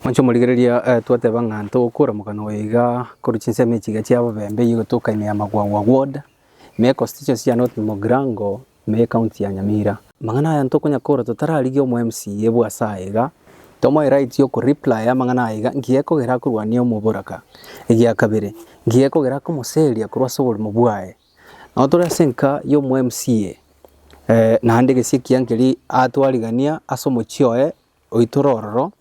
Inche omorigereria twateba ng'a tokoramoka na oyoiga korwa chinsemo echi iga chia obobembe eyio gotoka ime ya Magwagwa ward, ime ya constituency ya North Mogrango, ime ya ecounty ya Nyamira. Amang'ana aya ntokonyara korora totararigia omo MCA bwa ase aya iga, tomoe right ya okoreplaya amang'ana aya iga nki gekogera akorwania omoboraka. Egia kabere, nki gekogera akomoseria korwa ase oborimo bwaye. Nabo tore ase enka ya omo MCA, naende gese ekiya nkeri atwarigania ase omochie oye. oitore ororo,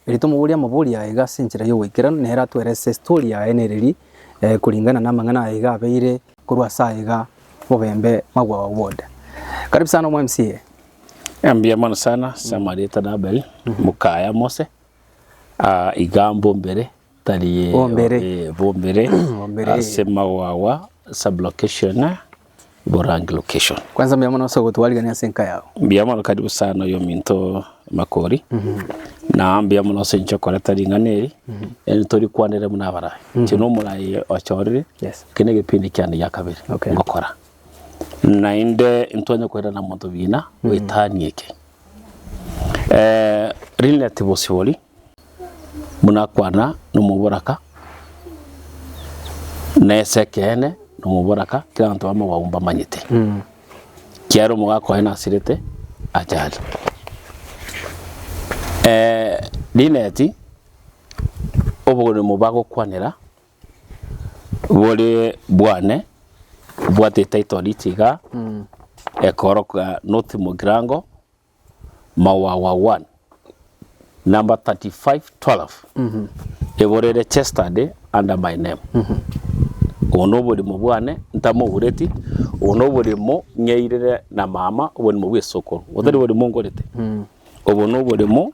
erio tomoborie amabori aye iga ase enchera y'ogoikeranu, nere atwere ase estori yaye nereri, koringana namang'ana aye iga abeire korwa ase aye iga bobembe mabwao bode. Karibu sana omo MCA. Mbuya mono sana, ase amarieta na Abel, mokaya Mose, iga mbombere Bombere. bombere Bombere. ase magwagwa sublocation borange location Kwanza mbuya mono ase ogotwarigania ase enka yao. mbuya mono karibu sana oyo ominto makori na mbuya mono ase inche okoreta ring'ana eri eri tori kwanere buna abarai inche na omorai ochorire Yes. eke na egepindi kiane gia kabere Okay. ngokora naende intwanya koirana monto bina goetania eke Eh, relative osibori buna akwana nomoboraka, na ase ekeene nomoboraka, kera abanto babo amaboko abu mbamanyete. Kiagera omogaka oye nasirete achare. Lineti, oboremo bagokwanera bore bwane, obwate etitle deed igaa, ekoroka North Mugirango. Mawawa 1. Number 35 12 Eborere chesterday under my name Obo noborimo bwane ntamoureti Obo noborimo ng'eirire na mama Oborimo bw'esokoro Otari borimo ngorete Obo noborimo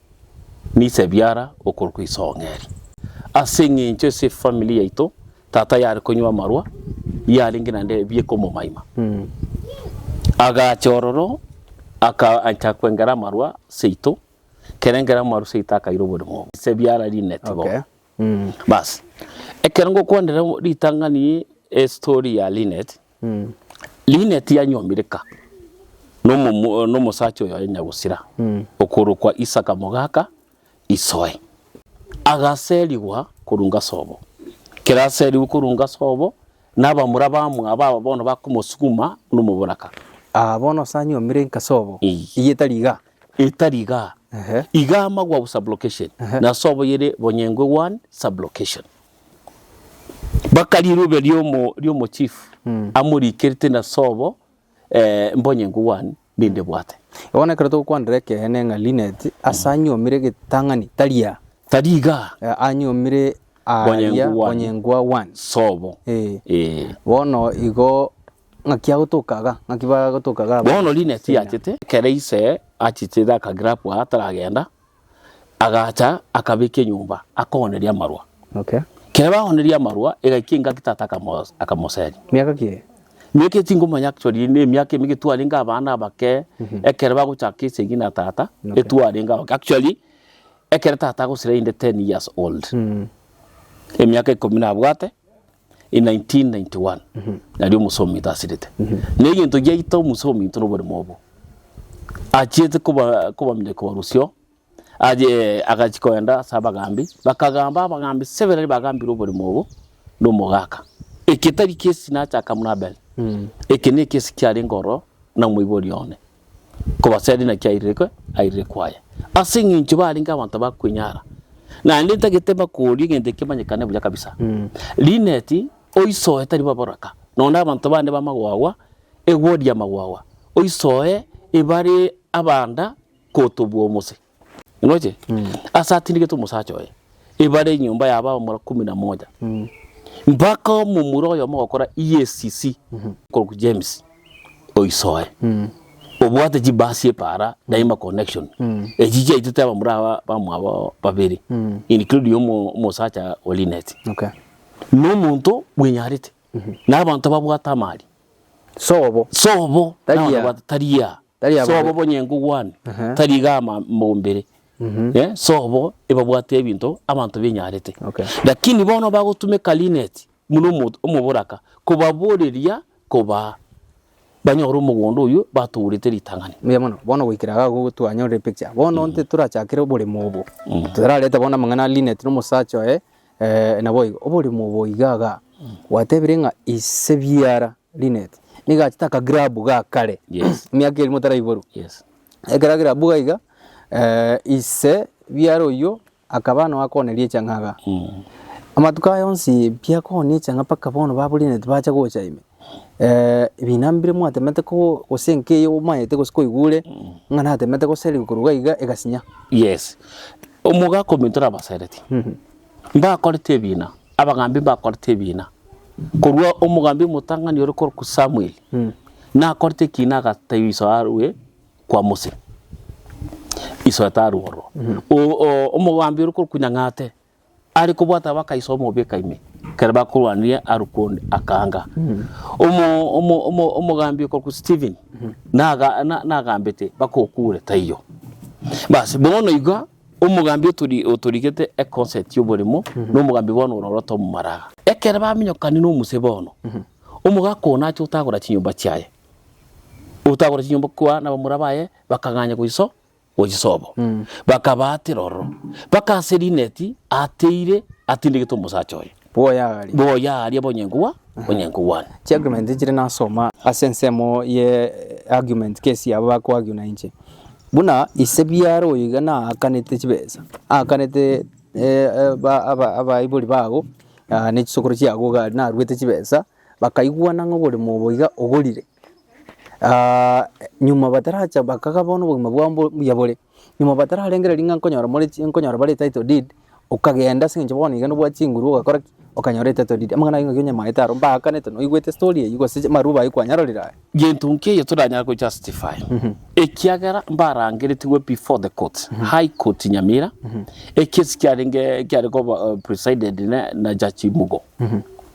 Niise biara okorokwa isong'eri. Ase eng'encho ase family yaito tata yare konywa amarwa yarenge naende ebieka omomaima. Agacha ororo akaancha kwengera amarwa seito kerengera amarwa seito akaira oborimo obo. Niise biara rineti bo. Okay. Bas, ekero ngokwanera ritang'ani estory ya Linet, Linet yanyomireka nomosacha oyoye nyagusira okorokwa Isaka mogaka isoe. Agaserigwa korunga sobo. Ekero aserigwe korunga sobo, nabamura bamwabo aba bono bakomosuguma nomoboraka. Aa bono ase anyomire inka sobo, eyio etari igaa? Etari iga. Ehe. Iga amagwa bu sublocation na sobo yere bonyengwe one sublocation. Baka riruube riomo riomo chief amorikerete na sobo eh, mbonyengwe one ninde bwate. Bono ekero togokwanera ekeene ng'a Linet ase anyomire getang'ani taria Tari iga eh, anyomire aaria Bonyengwa one. bonyengwa one. sobo. Eh. Eh. Bono igo Ng'aki agotoka iga? Ng'aki bagotoka iga abanto? Bono Lynette yachete, ekero ise achichete akagira bwa ataragenda, agacha akabeka enyomba akooneria amarwa. Okay. Kere baooneria amarwa, egaikia engaki tata akamos- akamoseria. Miaka ki eye? Miaka eye tingomanya actually, ne emiaka emege twarenge abana abake, ekero bagochaka esegi na tata, Okay. etwarenge abake. Actually, ekero tata agosira inde ten years old. Emiaka ikomi nabwate, in 1991 nario omusa ominto asirete. Na egento giaita omusa ominto na oboremo obo, achiete koba- kobamiria kobarusio, aye agachia kogenda ase abagaambi, bakagamba abagaambi sebe raria bagambire oboremo obo na omogaka. Eke tari kesi nachaka buna Abeli, eke nekesi kiarenge ororo na omoibori one. Kobaseria naki airire airire kwaya, ase eng'encho barenge abanto ba kwenyara, naende ntagete bakoria egento eke kimanyekane buya kabisa. Linet, oisoe tari bo boraka, nonye na abanto bande ba magwagwa, egori ya magwagwa, oisoe ebare abanda kotobua omose. Ngoche? Ase atindegete omosacha oye, ebare enyomba y'abaamura kumi na moja, mpaka omomura oyomo ogokora EACC okorokwa James oisoe, obwate chibasi epaara daima connection, echi chiaitete abamura aba bamwabo babere, including omo- omosacha o Linet. Okay. Nomonto bwenyarete, na abanto babwate amari. Sobo. Sobo, na Tari ya. onobato tari ya. Tari ya Sobo bobe. bonyengo bwane, Aha. tari iga ama- mombere. Eh, Sobo ebabwate ebinto abanto benyarete. Okay. Lakini bono bagotumeka linet buna omo- omoboraka kobaboreria kobaa banyore omogondo oyio batourete ritang'ani. Mbuya mono. Bono goikera iga igo twanyorire epicture. Bono nte torachakere oboremo obo. Torarete bono amang'ana a Lynette na omosacha oye, Ee, naboigo, oborimo obo iga iga gwatebire ng'a ise biara Lynette nigo achete aka grab ga kare Yes. emiaka eria motaraiborwa Yes. ekero grab iga iga eh, ise biara oyio akaba nao akoneria echang'a iga amatuko aya onsi biakooni echang'a mpaka bono babu Lynette bacha gocha ime Ebina mbire mwatemete ko, gose enka eye omaete gose koigwa ore, ng'a natemete goserigwa korwa iga iga egasinya. Yes, omogaka ominto nabaseretie, mbakorete ebina, abagaambi mbakorete ebina, korwa omogaambi omotang'ani ore korokwa Samuel, nakorete ekiina agatebia iso arue kwa Mose, iso tarue ororo. O- o- omogaambi ore korokwa Nyang'ate. Are kobwata abakaiso omobeka ime, ekero bakorwanirie arukwe onde, akaanga. Omo, omo, omo, omogambi okorokwa Stephen, naga, na- nagambete bakokuure, taiyo. Basi, bono iga, omogambi otori, otorigete econcert y'oborimo, na omogambi bono ore oroto omomalaga. Ekero baminyokanie na omuse bono, omogaka oo nache otagora chinyomba chiaye, otagora chinyomba kwa nabamura baye, bakang'anya goiso. gwe chisobo, bakabaatera ororo, mpaka ase rineti ateire atindigete omosacha oye. Boya aaria. Boya aaria bonyenku bwa bonyenku bwane. Chiargument nchire nasoma ase ensemo ye argument case yabo ba koargue na inche. Buna ise biaro oyo iga naakanete chibesa, aakanete eh, eh, ba- aba- abaibori bago ah, ne chisokoro chiago iga naruete chibesa bakaigwana ng'a oborimo obo iga ogorire, nyuma bataracha bakaga bono obogima bwabo mbo- mbuya bore, nyuma batararengereria ng'a nkonyora more chi nkonyora bare etitle deed, okagenda ase eng'encho bono iga nobwate chinguru ogakora ki? Okanyora etitle deed. Amang'ana ayio ng'aki onyamaete aro, mbaakanete noigwete story eyio gose chi amarwabu ayio kwanyarorire aye. Gento nkeiyo toranyare go justify, ekiagera mbarangeretigwe before the courts, High Court Nyamira, ekesi kiarenge kiare koba presided ne- na Judge Mugo.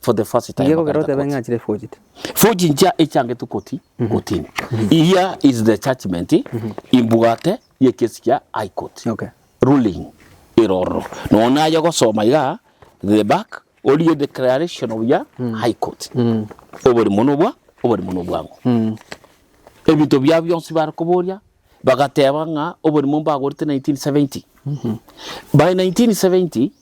for the first time. Inge kogera bakaita otebe koti. ng'a chire forged. Forge nchia echangetwe koti kotini. Here is the judgment imbugate yekesi kia High Court. Okay. Ruling ero ororo. Nonya naye gosoma iga the back orie declaration of ya High Court. Oborimo nobwa oborimo nobwango. Ebinto biabo bionsi bare koboria bagateba ng'a oborimo mbagorete 1970. By 1970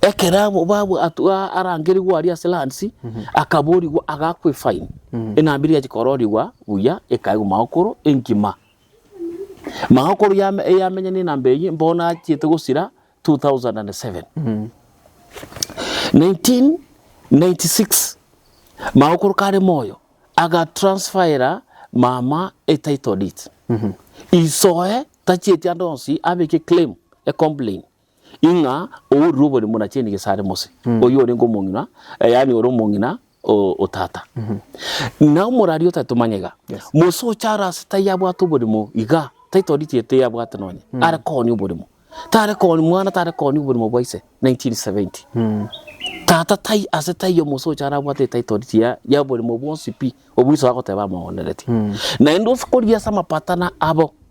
Ekero abwo babwo atwo aa arangerigwe aria ase lands, akaborigwa agakwe fine, enambe eria yachia kororigwa buya ekaegwa magokoro engima. Magokoro yame eyamenya na enambe eyio bono achiete gosira two thousand and seven. Nineteen ninety six, magokoro kare moyo, aga transfera mama e title deed. Isoe tachieti ande onsi abeke claim, e complain. ing'a ourire oborimo na chieni gese are Mose, oyio orenge omong'ina, eh, yaani ore omong'ina o, o tata. Na omoraria otaete omanyega, Yes. Mose ocha are ase tai abwate oborimo iga, taitoritie ete abwate nonye, are koonia oborimo. Tare koonia mwana, tare koonia oborimo bwa ise, 1970. Tata tai ase taiyo Mose ocha arabwate etitle deed ya, ya oborimo bwonsi pi, obwo iso agoteba amooneretie. Naende ase korigia ase amapatano abo,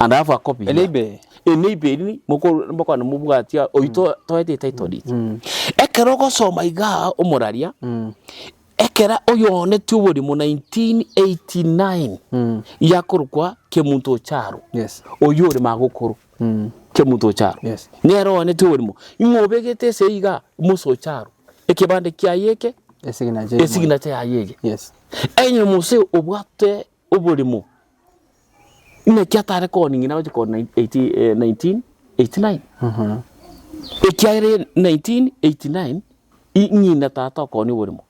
And have a copy A here. neighbor. A neighbor eri ni- mokor- mbokwana mobwati a- oyio to- toete etitle deed. Mm. Ekero ogosoma igaa omoraria, Mm. ekera oyonetie oborimo 1989 Mm. yakorokwa Kemunto Ocharo, Yes. oyio ore magokoro Mm. Kemunto Ocharo. Yes. Nere oyonetie oborimo. Ing'o obegete ase igaa Musa Ocharo, ekebande kiaye eke, Esignature. esignature yaye ege. Yes. Enye mose obwate oborimo Naki atare koning'ina gochia korwa 1989 ekiagera 1989 ng'ina tata okooni oborimo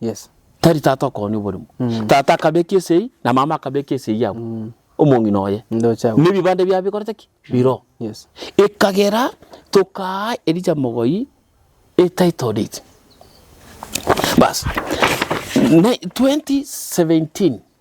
tari tata okooni oborimo. Tata akabeka esegi na mama akabeka esegi abwo omong'ina oye na ebibande biabo bikorete ki? Biroo. Ekagera tokaa Elijah Mogoi e title deed. Baas 2017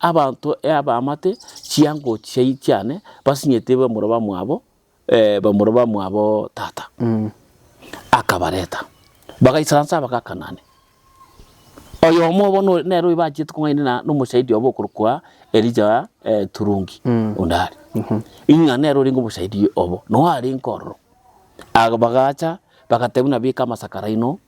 Abanto eabamate chiango chiai chiane basinyete bamura bamwabo, eh, bamura bamwabo tata. Akabareta, bagaisara nse Abagakanani. Oyomo obo no- nere oyo bachiete kong'aini na- nomoshahidi obo okorokwa Elija eh, Turungi, onde are. Ing'a nere orenge omoshahidi obo, noyo arenge ororo. Ag- bagacha, bagateba, Buna beka amasakara aino,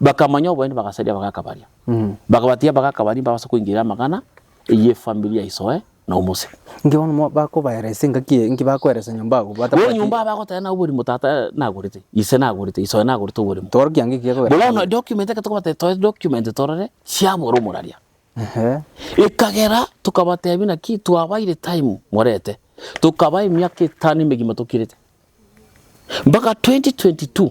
Bakamanya oboene bagasaria abagaka baria. Bakabatiga abagaka baria mbabase koingeria amagana eyio efamiri ya isoe na omose. Inki bono mo- bakobaeresa engaki eye? Inki bakoeresa nyomba agwo Bono batabwati? nyomba bagoteba nabo oborimo tata nagorete, ise nagorete, isoe nagorete oborimo. Toro kianga ekiya Bono bono koeresa. document ekero tokobatebia toe document torore, chiabora omoraria. Ehe. Ekagera tokabatebia naki twabaire time morete, tokaba emiaka etano emegima tokirete. Mpaka 2022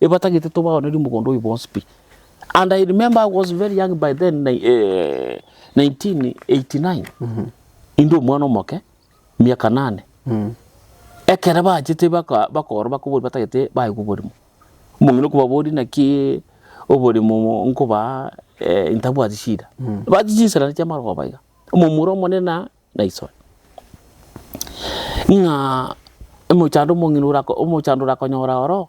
Ebatagete tobaonerie omogondo oyo bonsi pi and I remember I was very young by then nai- eh, 1989 inde omwana omoke miaka nane ekere bachete baka- bakoro bakobori batagete baigwe oborimo omong'ina okobabori naki oborimo nkobaa eh, ntabwati shida ebati chinsera naria chiamara koba iga omomura omonene na naisore ng'a omochando omong'ina orako- omochando orakonyora oroo.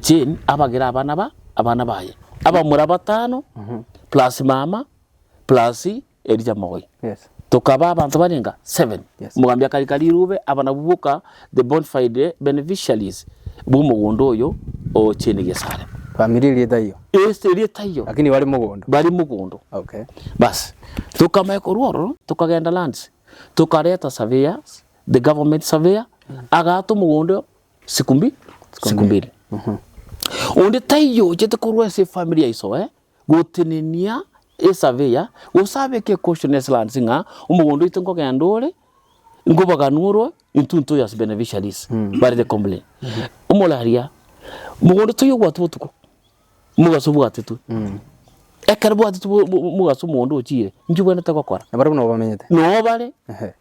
Jane abagere abana ba abana baye abamura batano plus mama plus Elijah Mogoi Yes. tokaba abanto bane enga seven Yes. omogambi akarika rirube aba nabwo boka the bonfide beneficiaries bw'omogondo oyo o Jane Gesare Family eri etaiyo. Ase erieta iyo Lakini bari mogondo. bari mogondo Okay. basi tokamanya korwa ororo tokagenda lands tokareta surveyors the government surveyor agaata omogondo Siku mbi, siku mbili. Mhm. Onde taiyo ochete korwa ase efamiri ya iso eh, gotenenia esavia, gose abeke caution ase lands ng'a omogondo oito nkogenda ore, nkobaganwa orwe, intwe ntoyo as beneficiaries, mm. barete complain. Mm -hmm. Omoraria, mogondo taiyo obwate botuko, mogaso obwatetwe. Mm. Ekero bwatetwe mogaso omogondo ochire, nki bwenete gokora? Nabare buna obamenyete. Nobare. Ehe.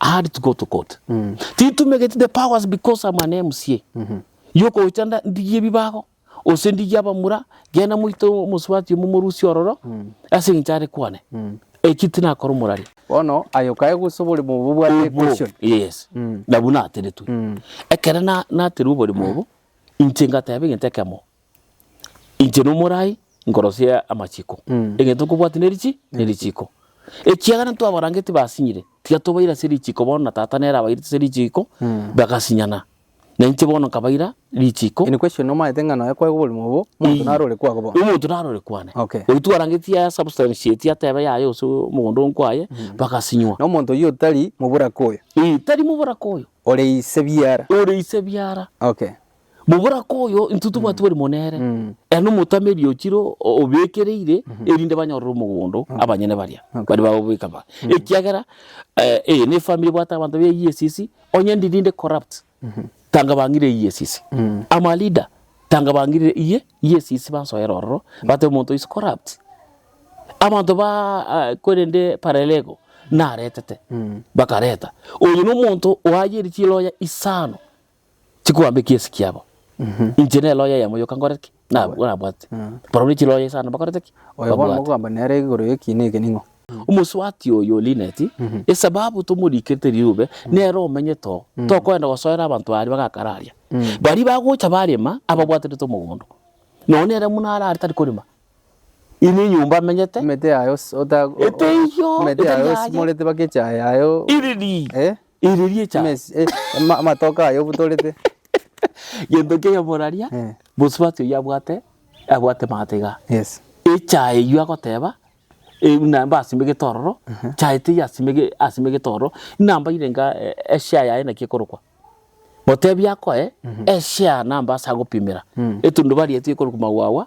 Add to go to court. Titumegeti the powers because I'm an MCA. Yokogocha nda- ndigie ebibago, gose ndigie abamura, genda moite omosubati omo morusie ororo, ase eng'encho are kwane. Eki tinakora omorari. Bono aye okae gose oboremo obo obwate Obo, equation. yes. Nabwo nateretwe. Ekero na- naterwa oboremo obo, inche ngateba egento ekemo, Inche nomorai nkorosia amachiko, egento nkobwati nerichi nerichiko. Ekiagera ntwabarangeti basinyire, tiga tobaire ase richiko bono na tata nere abairete ase richiko, bagasinyana. Na inche bono nkabaira richiko. In question, omanyete ng'a nonya kwaigwa oborimo obo, omonto naro ore kwago bono? Omonto naro ore kwane. Okay. Oyio twarangeti a substantiate atebe yaye ase omogondo oo nkwaye, bagasinywa. Na omonto oyio otari moboraka oyo? Eeh, tari moboraka oyo. Ore ise biara? Ore ise biara. Okay. Moboraka oyo intwe tobwate bori mo nere, ere nomotame eriogi ro obekereire, erinde banyorere omogondo abanyene baria baria bagobeka ba. Ekiagera eh, eye nefamiri ebwate abanto be EACC, onye ndi rinde corrupt, tanga bang'ire EACC. Ama leader, tanga bang'ire iye EACC bansoere ororo, bate omonto is corrupt. Abanto ba ah, korende parelego, naretete, bakareta. Oyo nomonto oayeire chiloya isano. chikoamba ekiesi kiabo. Inche nere roho y'eyemo yoka nkore ki? Na- nabwate. Barabwo ne chiroho isano bakorete ki? Oyo bono Babwate. mokoamba nere igoro y'ekiina eke ning'o? Omosubati oyo o Lineti, esababu tomorikerete riube, nere omenyete oo, tokoenda gosoera abanto aria bagakara aria. Baria bagocha barema, ababwaterete omogondo. Nonye nere buna arare tari korema. Inwe enyomba amenyete. Emete yaye os- ota- o- Eteiyo, emete etari yaye yaye. osimorete baka echaye yaye o- Iriri, Eh? iriri echaye. Emesi- eh, ama- amatoke aye obutorete. Gento keria moraria, Eh. mosubati oyio abwate, abwate magatiga. Yes. Echaye eyio agoteba, eh, buna mbasimegete ororo, chaye teiyo asimege- asimegete ororo, namba irenga eh, eshare yaye naki ekorokwa. Motebi akoe, eshare namba ase agopimera. Etundubaria eti ekorokwa magwagwa,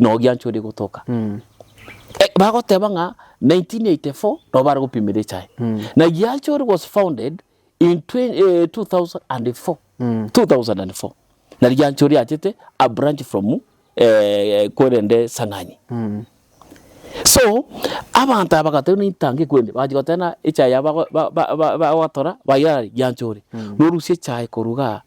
Nogiancha oria gotoka. Bagoteba ng'a 1984 nabo bare gopimera echae. Na Giancha oria was founded in 2004. Na Giancha oria achete a branch from kwerende Sang'ani. So abanto aba bagateba buna intanga ekwende. Bagachia goteba buna echae yabo bagotora baira are Giancha oria. Norusia echae korwa igaa.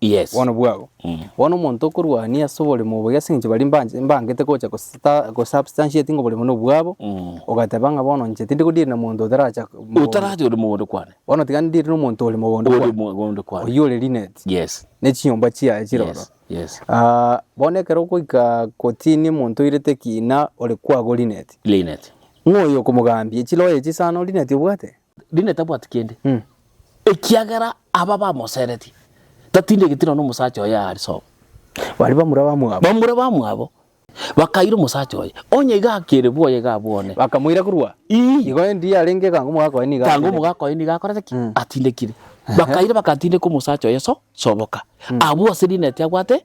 Yes. Bono bwao. Mm. Bono omonto okorwania ase oborimo obo ase eng'encho baria mbanje- mbangete gocha gosita- gosubstantiating oborimo buna obwabo, Mm. ogateba ng'a bono inche tindi kodiiri na monto otaracha mogondo. Otaracha ore mogondo kwane. Bono tiga ndiire na omonto ore mogondo Ore kwane. mogondo kwane. Oyio ore rineti. Yes. Ne chinyomba chiaye chire ororo. Yes. Yes. Ah, bono ekero ogoika kotini omonto oirete ekina ore kwago rineti. Linet. Ng'oyo okomogambia chiloya echi sana ore rineti obwate? Rinde tabwati kende, ekiagera aba bamoseretie, tatindigeti nonya omosacha oye aare sobo. Baria bamura bamwabo. Bamura bamwabo bakaira omosacha oye, onye iga akere bwoye iga abwone. Bakamoira korwa. Ii. Igo endi yarenge ekanga omogaka oye nigo Tango atindekire. omogaka oye nigo akorete ki? Atindekire. Bakaira bagatindeka omosacha oye so soboka. Abwo ase rineti abwate.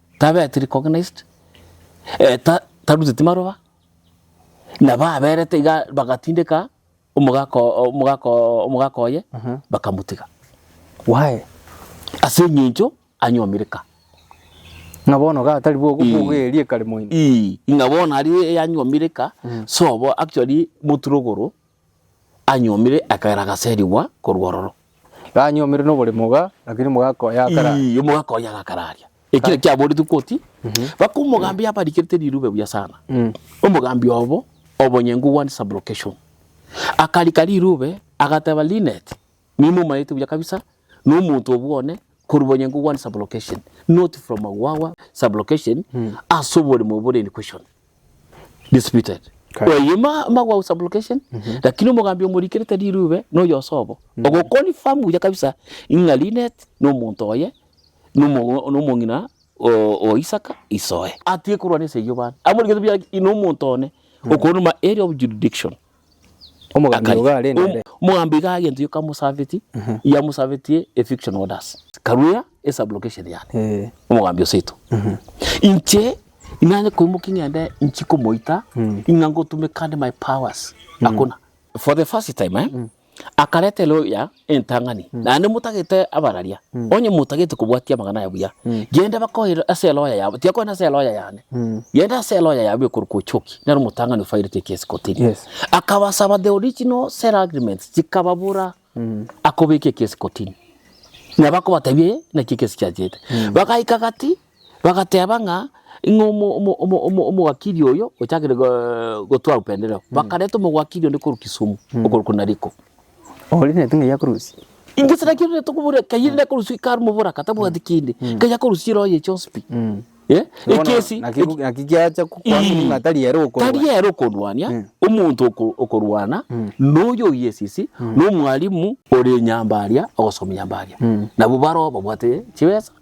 tabeti recognized, taruteti maroba, nabo aberete iga bagatindeka omogaka oo, omogaka oo, omogaka oye, bakamotiga. Why? Ase eng'encho anyomire ka. Ng'a bono ga tari bwo- Ii. bwogoeria ekare moino. Ii, ng'a bono aria yanyomire ka, so bo actually moturogoro Anyuomire akagera agaserigwa korwa ororo. Ganyuomire nobore moga, lakini moga akoya akara. Ii, omoga akoya agakara aria. Ekere kiaboretwe koti, baka omogambi abarikerete rirube buya sana. Omogambi obo, obonye ngugwanire sublocation. Akarika rirube, agateba, Lynette, Nimomaete buya kabisa nomonto obwo one korwa Bonyango one sublocation not from Magwawa sublocation ase oboremo bore in question disputed oye Magwawa sublocation lakini omogambi omorikire tari Irube noyo osobo ogo confirm buya kabisa ng'a Linet nomonto oye nomong'ina o Isaka isoe. Atigekorwa neseyio bande amorikete buya nomonto one okorwa area of jurisdiction. Omogambi Akari. ogo are Om- nembe. Omogambi iga agento yoka mosabeti, ya mosabetie eviction orders. Karuya esublocation yane. Eh. Omogambi oseto. Inche inanye koimoki ngende nchi komoita ing'a ngotume kandi my powers. Akona. For the first time eh, akareta eloya entang'ani, naende motagete abararia, onye motagete kobwatia amang'ana aya buya, genda bakoeire ase eloya yabo, tiakoenda ase eloya yane, genda ase eloya yabo ekorokwa Uchoki, nere omotang'ani ofairete ekesi kotini. Akabasaba the original sale agreements, chikababura, akobeka ekesi kotini. Nabo akobatebia, eye naki ekesi chiachete. Bagaika gati, Bagateeba ng'a ing'o omo omo omo omo omogakiri oyo ochakire go gotwaa upendereo. Bakareta omogwakiri onde korwa Kisumu, okorokwa Nariko. Oria neti ng'ai akorusie? Gose naki rende tokoboria kayio rende akorusie kaa arume oboraka tabwati kende, kayio akorusie eroho ye chionsi pi. Eh, ekesi Naki eki- naki kiacha ku- Ii. kwamini ng'a tari ere okorwa. tari ere okorwania, omonto oko- okorwana noyo oyio esisi, nomwalimu ore nyambaria ogosomia nyambaria. Nabwo baroo babwate chibesa,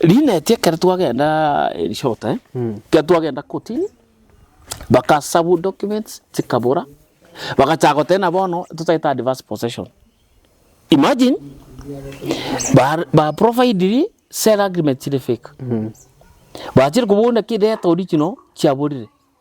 Riineti ekero twagenda in short eh, ekero twagenda kotini, baka serve documents chikabora, bagachaka goteba ng'a bono totagete advance possession. Imagine, bare ba providiri sell agreement chire fake, bachire kobuna ki debt original chiaborire,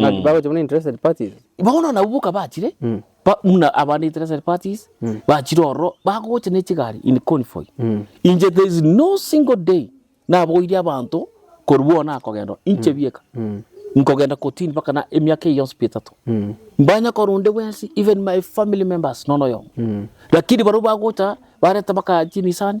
Ng'a Mm. bagocha buna interested parties. Bono nabo bokabachire Mm. ba- muna abande interested parties Mm. bachire ororo bagocha ne chigari in convoy Mm. inche there is no single day naboirie abanto korwa bono nakogenda oo, inche bieka Mm. nkogenda kotini mpaka na emiaka eye yonsi pi etato Mm. mbanya kora onde bwensi even my family members nono oyomo Mm. lakini baria bagocha bareta baka chimisani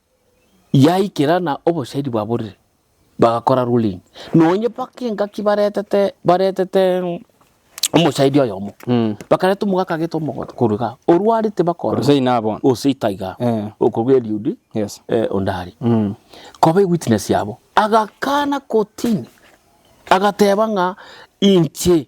Yaikera na obosairi bwaborire, bagakora ruling. Nonye mpaka engaki baretete, baretete omosairi oyomo, bakareta omogaka agete omogote korwa igaa, orwa are tibakora. Gose ina abona. Gose ita igaa. Eh. Okorwa Eliud, Yes. eh, onde are. Koba ewitness yabo. Agakana kotini, agateba ng'a inche.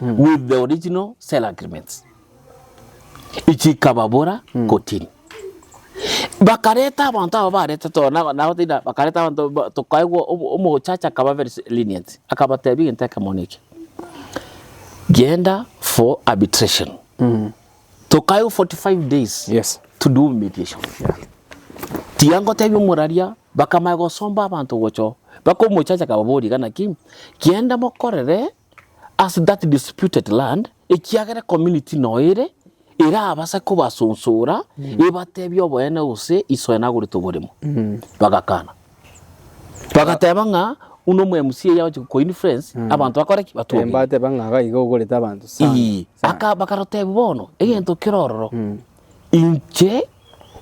with the original sale agreements ichikababora kotini bakareta abanto aba barete to na na otina bakareta abanto ba tokaigwa omo omochacha akaba very si lenient akabatebia egento ekemo neke genda for arbitration tokaigwa forty five days Yes. to do mediation tiga ngotebia omoraria bakamanya gosomba abanto gocho baka omochacha akababoria iga naki genda mokorere ase that disputed land, ekiagera community noere erabase kobasonsora ebatebie oboene gose iso ene agorete oboremo. Bagakana. Bagateba ng'a uno omo MC eye agochi ko influence abanto bakore ki? Batwe Eh, obuya. mbateba ng'a iga iga ogorete abanto sana, Ii, sana. aka- bakarotebia bono egento kere ororo inche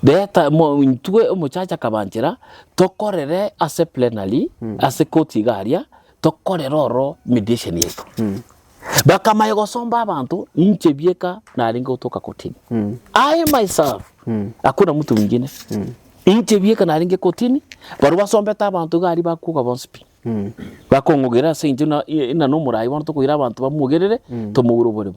reta mo- intwe omochacha akabanchera tokorere ase plenary ase koti iga aria tokorera oro mediation yaito. Bakamanya gosomba abanto, inche bieka narenge gotoka kotini. I myself, hakuna mtu mwingine. Inche bieka narenge kotini, barobwo basombete abanto iga aria bakoga bonsi pi. Bakong'ogera ase inche buna i- i- nanomorai bono tokoira abanto bamogerere, tomoure oboremo.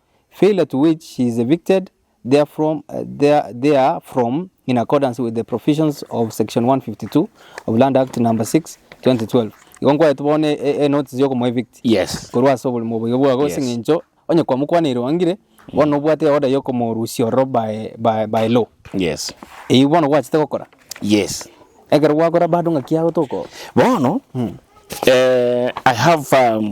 failure to which she is evicted therefrom there therefrom in accordance with the provisions of section 152 of Land Act number 6 2012 igo nkwaete bono e- e- enotice yokomoevict Yes. korwa ase oborimo oboigo bwago Yes. ase eng'encho onye kwamokwaneire orangire bono obwate eorder yokomorusia ororo by, by, by law Yes. eyio bono gwachete gokora Yes. ekero gwakora bado ng'aki yago toko Bono, eh, I have um,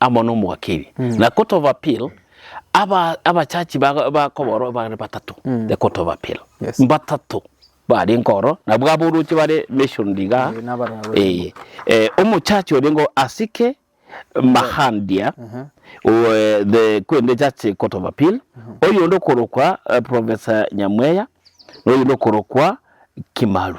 amo nomogakiri, na kotobapil aba abachachi ba bakoba oro bare batato, na kotobapil Yes. mbatato barenge oro, nabwo aboroche bare mentioned igaa, Eh, nabarora barenge. eye eh, omochachi orenge o Asike Mahandia o eh, the kwende echachi kotobapil, oyonde okorokwa eh, Professor Nyamweya, na oyonde okorokwa Kimaru.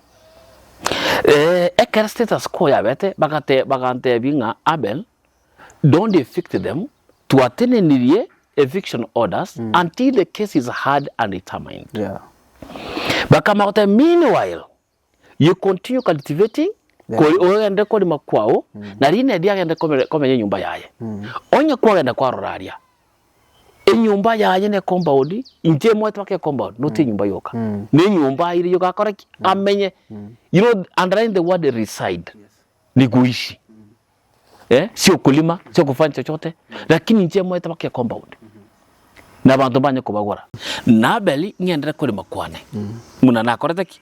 Ee, ekero status quo yabete bagate bagantebia ng'a Abel, don't evict them, twatenenirie eviction orders until the case is heard and determined. Yeah. Bakamanya goteba meanwhile you continue cultivating Yeah. kori ogende korima kwao na Rinedi agende komere- komenya enyomba yaye. Onye kwagenda kwarora aria Enyomba yaye ne compound, inche emoete baka ecompound not enyomba yoka. Ne enyomba aire yoka akore ki? Amenye. You know underline the word reside. Ni goishi. Eh, sio okorima, sio okofanya chochote. Lakini inche emoete baka ecompound. Na abanto mbanye kobagora. Na Abeli ng'endere korema kwane. Buna nakorete ki?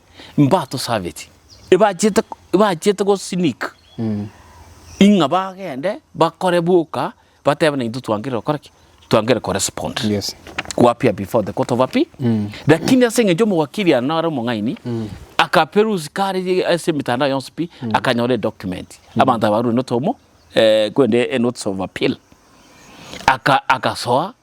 mbatosabeti, ebachiete ebachiete go sneak ing'a bagende bakore boka batebe naintwe twankerire gokora ki? Twankerire ko respond. Yes. Kwapia before the court of appeal, lakini ase eng'encho omowakiri ere nare omong'aini, akaperusi kare ase emetandao yonsi pi, akanyora edocument abanto aba barure notomo korende enotice of appeal, aka agasoa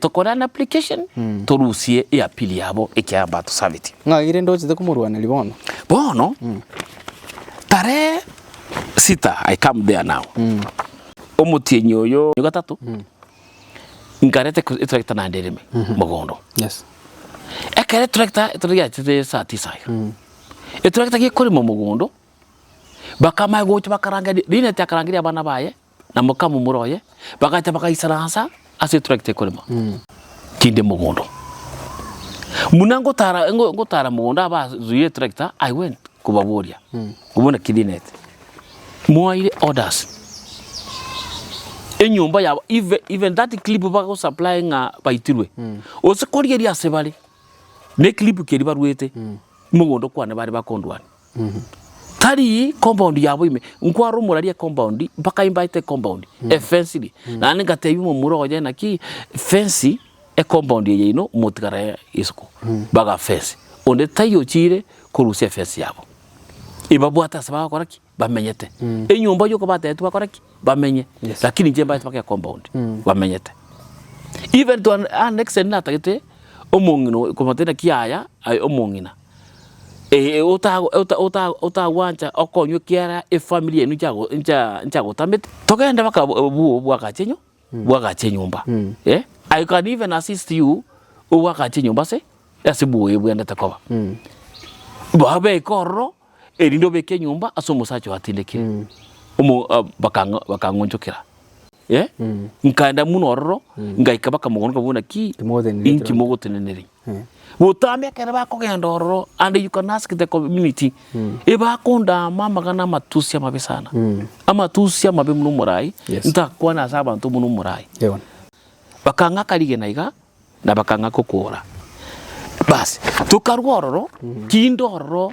tokore an application torusie eapili yabo ekiagera mbatosabeti. Ng'ai rende ochete komorwaneria bono? Bono tarehe sita I come there now omotienyi oyo gatato nkareta etractor naende ereme mogondo ekero etractor etractor yachire saa tisa iga etractor gekorema mogondo bakama gocha bakaranga rende rineti akarangeria abana baye. na mokamomura oye, bagacha bagaisaransa ase eturakita ekorema tinde mogondo. Buna ngotara ngo- ngotara mogondo aba azuia eturakita, I went kobaboria, ng'a bono ki dinete? Mwaire orders, enyomba yabo eve even that clip bagosupply ng'a baitirwe, gose korigeria ase bare, ne clip keria baruete, mogondo kwane bare bakondwania. Tari compound yabo ime, nkwara omorari ecompound mpaka imbaete ecompound, efence ri. Naende ngatebia omomura oye naki fence ecompound eye yaino motigara ya isiko, baga fence, onde tai ochire korusia efence yabo. Ebabwate ase bagokora ki? Bamenyete. Enyomba yoka batagete bakore ki? Bamenye. Yes. Lakini inche mbaete mpaka ecompound, bamenyete. Even to an an extent natagete omong'ina oyo komotebia naki yaya, aye omong'ina. otagwancha okonywa ekiagera efamiri yaino nchagotamete, togende mpaka obwagache enywe, bwagache enyomba, eh, I can even assist you obwagache enyomba ase ase bwoye bwendete koba. Baa beke ororo erinde obeke enyomba ase omosacha oyo atindekire, omo bakang'a bakang'onchokera. Eh? Nkaenda muno ororo, ngaika bakamogonoka buna ki? Timogoteneneria Inki ekero- mogoteneneria? Eh. Botambe ekero bakogenda ororo and you can ask the community, ebakondaama amagana amatusi amabe sana. Amatusi amabe buna omorai, Yes. ntakwana ase abanto buna omorai. Yebo. Bakang'aka rigena iga, na bakang'aka okoora. Bas, tokarwa ororo, kinde ororo.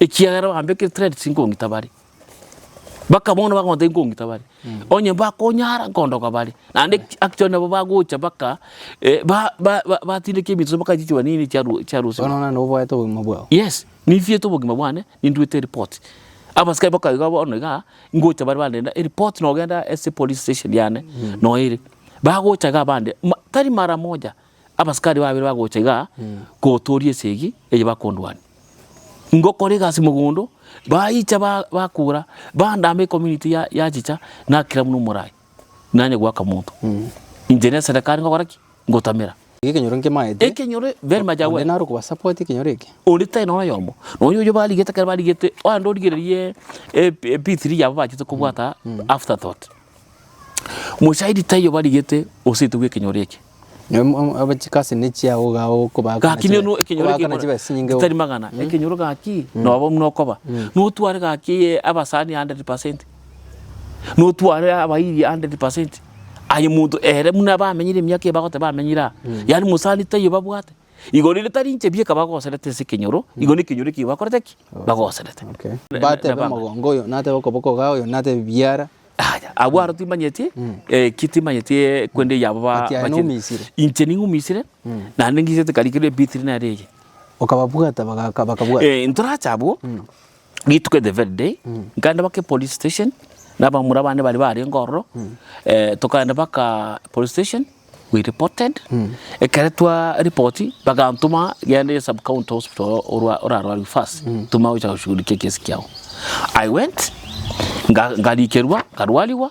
Ekiagera bambekire threats nkong'ita bare. Mpaka bono bakomata nkong'ita bare. Onye bakonyara nkondoka bare. Naende actually nabo bagocha mpaka eh, ba- ba- ba- batindeka eminto mpaka chichuba nini chia ru- chia rusia. Bono nonye noboete obogima bwao. Yes, ninchiete obogima bwane, ninduete eripoti. Abasikari mpaka iga bono igaa, ngocha bare bandenda eripoti nogenda ase epolice station yane, noyo ere. Bagocha iga bande, ma tari mara moja. Abasikari babere bagocha iga kotooria esegi eye bakondwania. Ngokora egasi mogondo, baicha bakura, bandama ecommunity ya yachicha, nakira buna omorai, nanye goaka monto. Inche ne eserekari ngokora ki? Ngotamera. Iga ekenyoro nkemaete. Ekenyoro very much aware. Onde naro okoba support ekenyoro eke. Onde tari nonye oyomo. Nonya oyio barigete kare barigete, onde origererie P3 yabo bachete kobwata after thought. Omosaidi taiyo barigete oseete bw'ekenyoro eke. Chikasi nechia okoba gaki neno ekenyoro eketari magana ekenyoro gaki noba buna okoba notware gaki eye abasani hundred percent notware abairi hundred percent aye monto ere buna bamenyire emiaka eye bagoteba bamenyire aa yaani mosani taiyo babwate Igoro erio tari inche bieka bagoserete ase ekenyoro, igo nekenyoro ekio bakorete ki? Bagoserete. Okay. Na- Batebe nabanga. omogongo oyo, natebe okoboko iga, oyo natebe biara. Aya, abwo aro timanyeti, eh, ki timanyeti eh, kwende yabo ba- Ati aye bachire. noumisire. Inche ning'umisire, naende ng'isete karikerwe ebitiri nere eye. Okababwata bagaka bakabwata. Eh, ntorache abwo, Rituko the very day, nkaenda baka epolice station, na abamura bane baria barenge ororo, eh, tokaenda baka police station, we reported, ekero twa report, bagantoma genda ase sub county hospital oro- orwa- orarwariwe first, toma gocha goshughulikia ekesi kiao. I went, nga- ngarikerwa, nkarwariwa,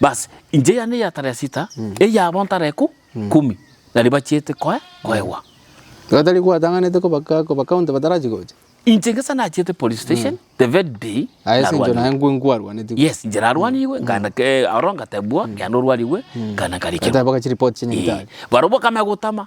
Basi, inche yane eya taresita, eyabo ntare eku kumi, na ribachiete koe koegwa. Gatari gwatang'anete koba ka- koba county batarachi gocha. Inche ngesa nachiete police station the very day Aye ase enchero narwanirie. naye nkwe nkwarwanetigwe. Yes, inche narwanirwe, nkaenda ke- aro ngatebwa, genda orwarigwe, nkaenda nkarikirwa. Bateba gochi report chi'nyagetari. Barobwo bakamanya gotama,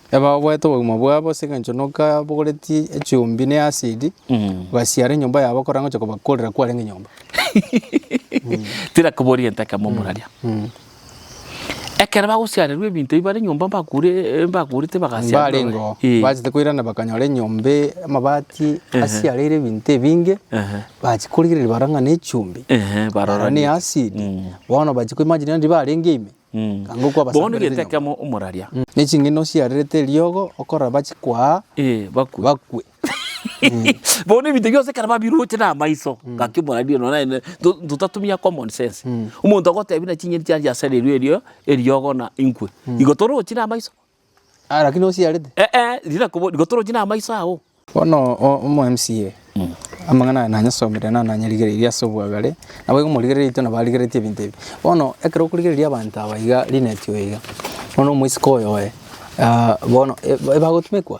Ebaboete obogima bwabo ase engencho nokabogoretie echumbi ne asidi, basiare enyomba yabo korora ngocha kobakorera kwarenge nyomba. Tira koboria egento ekemo omorwaria. Ekero bagosiarerwa ebinto ebio bare enyomba mbakure mbakurete bagasiarerwa. Mbarengeo Eh. bachete koirana bakanyora enyomba e- amabati asiareire ebinto ebinge, Ehe. bachi korigereria barora ng'a ne echumbi, Ehe, barora barora ne ni- acid, bono bachi koimagina rende barenge ime, Bono getekemo omoraria. Ne ching'eni osiarerete eriogo okoraba chikwaa bakwe. Bono ebinto bionsi ekero babiroche namaiso, gaki omoraria nonya naende totatumia common sense. Omonto agotebi na ching'eni chiane chiasareirwe eriogo na inkwe. Igo torochi namaiso. Ah, lakini osiarete. Eeh, rira kobo rigotoroche na amaiso ao. Bono o- omo MCA amang'ana aya nanyasomire na nanyarigereirie ase obwagare, naboigo morigereria intwe nabo arigeretie ebinto ebi. Bono ekero okorigereria abanto aba iga Linet oyo iga, bono omosike oyoe bono e- ebagotumekwa.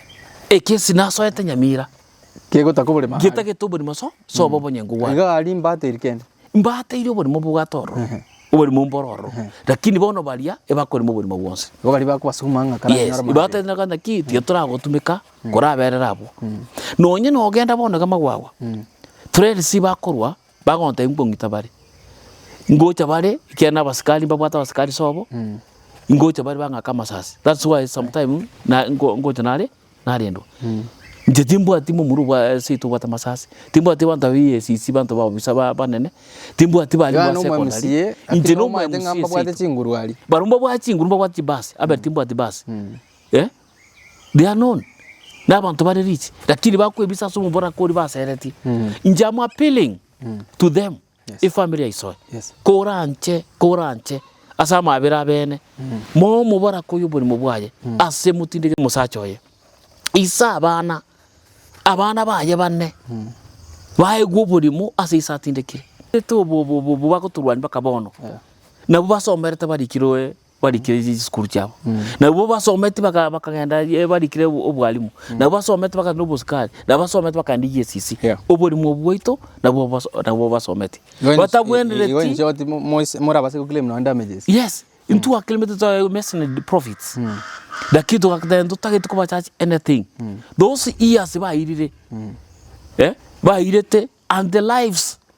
Ekesi nasoete nyamira. Kegotaka oborimo ahare. Getagete oborimo so, soba obonyengu bwane. Iga aria imbate eri kende. Imbate iri oborimo mbobwate ororo. Oborimo mbore ororo. Lakini bono baria ebakorema oborimo bwonsi. Igo baria bakobasukuma ng'a karanyore amabera. Yes, ibatete ng'a naki tiga toragotumeka koraberera abwo. Nonye nogenda bono iga magwagwa, friends bakorwa Bagontebia nkong'ita bare. Ngocha bare, ekiagera nabasikari mbabwate abasikari sobo, ngocha bare bang'ake amasasi. That's why sometime na nko- nkocha nare narendwa. Inche timbwati momura obwa seito obwate amasasi, timbwati abanto ba EACC abanto ba obisa ba- banene, timbwati baria Iga ba nomo secondary, MCA, lakini inche nomo omanyete ng'a MCA mbabwate seito. chinguru aria. Barabwo mbabwate chinguru mbabwate chibasi, abe timbwati basi. Eh? they are known na abanto bare rich lakini bakwebisa ase omoboraka oria baseretie inche am appealing to them Yes. efamiri yaisoe Yes. koranche koranche ase amabera abene moe omoboraka oyo oborimo bwaye ase motindeke omosacha oye ise abana abana baye bane baegwe oborimo ase ise atindekire Ete obo- obo- obo- obo bagotorwania mpaka bono Yeah. nabo basomerete barikiroe. Barikire chisukuru chiabo, nabwo basometi baka bakagenda ye barikire o- obwalimu, nabwo basometi bakagenda na obosikari, nabwo basometi bakagenda EACC. Yeah. Oborimo bwaito nabwo bas nabwo basometi. Igo inche- Batabwenereti- igo inche oti mo- moise- morabase go claim nonya damages. Yes, intwe a claimete twaye messoned profits. Lakini togaka then totagete koba charge anything. Those years bairire, eh, bairete and the lives.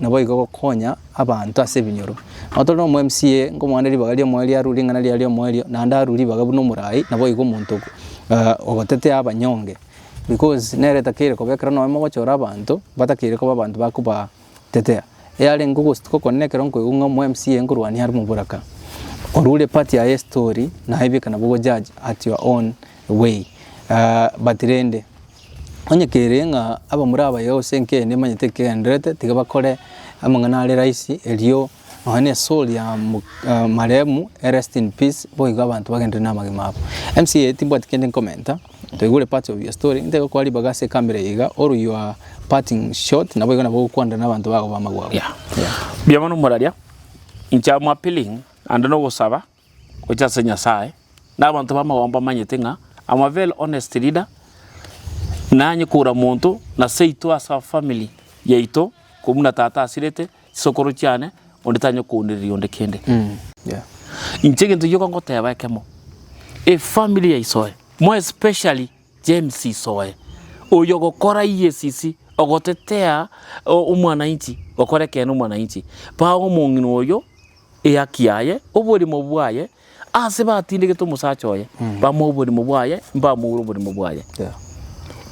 naboigo gokonya abanto ase ebinyoro. Nabo tore nomo MCA nkomwana ribaga ri'omoerio arure ring'ana riaye ri'omoerio naende arure ribaga buna omorai naboigo omonto ogotetea abanyonge because nere takeire koba ekero nonya mogochora abanto batakeire koba abanto bakobatetea. Yarenge ogostuka okone ekero nkoigwa ng'a omo MCA nkorwania are omoboraka, orure epati yaye y'estori naye bweka nabo ogo judge at your own way, but rende, onye kere ng'a abamura abaye gose enkeene emanyete ekegendererete, tiga bakore amang'ana are rahisi erio nonye na esoori ya mo- marehemu erest in peace, boigo abanto bagenderere na amagima abo. Mca timbwati kende nkomenta, ntoigure parts of your story, ntoigo okobaa ribaga ase ekabere eye iga, all your parting shot naboigo nabo ogokwanera na abanto bago ba amagwabo. Yeah. Yeah. Mbuya mono moraria, inche am appealing naende nogosaba, gochia ase Nyasae, na abanto b'amagomba bamanyete ng'a I'm a very honest leader, nanye koura monto na seito ase afamiri yaito korwa buna tata asirete, chisokoro chiane, onde tanyare kounereria onde kende. Inche egento gioka ngoteba ekemo, efamiri ya isoe, more especially James isoe, oyo ogokora EACC, ogotetea omwanainchi, gokora ekeene omwanainchi, paga omong'ina oyo. Ehaki yaye, oborimo bwaye, aase batindegete omosacha oye, bamoa oborimo bwaye, mbamoure oborimo bwaye.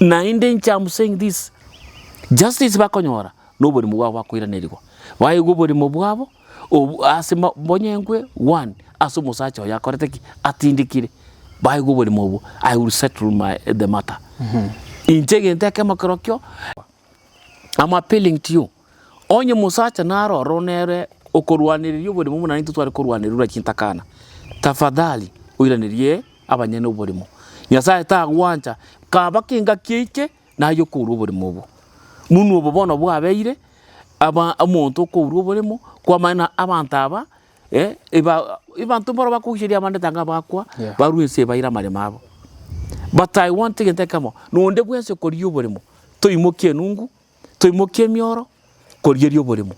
Naende inche am saying this, justice bakonyora noborimo bwabo bakoiranerigwa, baigwe oborimo bwabo obu aase ma bonyengwe one ase omosacha oyo akorete ki? Atindekire, baigwe oborimo obwo, I will settle my the matter. Inche egento ekemo kerokio, am appealing to you, Onye omosacha naro ororo nere okorwanereria oborimo buna intwe tware korwanererwa chintakana, tafadhali oiranerie abanyene oborimo. Nyasae tagwancha kaba kengaki eike naye okourwa oborimo obo. Buna obo bono bwabeire, aba omonto okourwa oborimo kwamanya na abanto aba ebanto mboro bakogochorerwa abande taiga bakwa barue ense baire amaremo abo. But I want egento ekemo na onde bwensi okoria oborimo toimokie enungu Toimokie emioro korieria oboremo.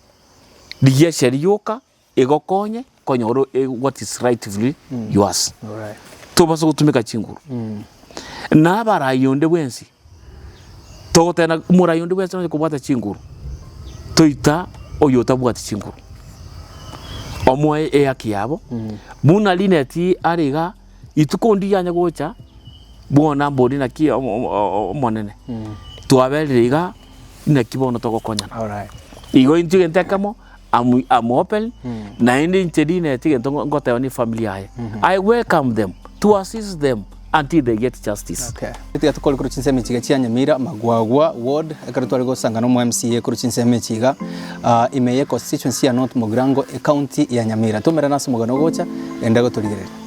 Rigiacha rioka egokonye konyora what is rightfully yours. Tobasa gotumeka chinguru. Na abarai onde bwensi, togoteba ng'a morai onde bwensi nonya kobwata chinguru, toita oyotabwati chinguru. Omoe ehaki yabo, buna Linet are iga. Rituko ndiria anye gocha, bono mbori naki Omonene, twaberire iga, inaki bono togokonyana. Igo intwe egento ekemo, am open, naende inche Linet egento ngoteba ne efamiri yaye, I welcome them to assist them until they get justice. Tiga tokore korwa chinsemo echi iga chia Nyamira, Magwagwa ward, ekero tware gosanga na omo MCA korwa chinsemo echi iga ah, ime ye constituency ya North Mogirango ecounty ya Nyamira. Tomerane ase omogano ogocha, enda gotorigereria.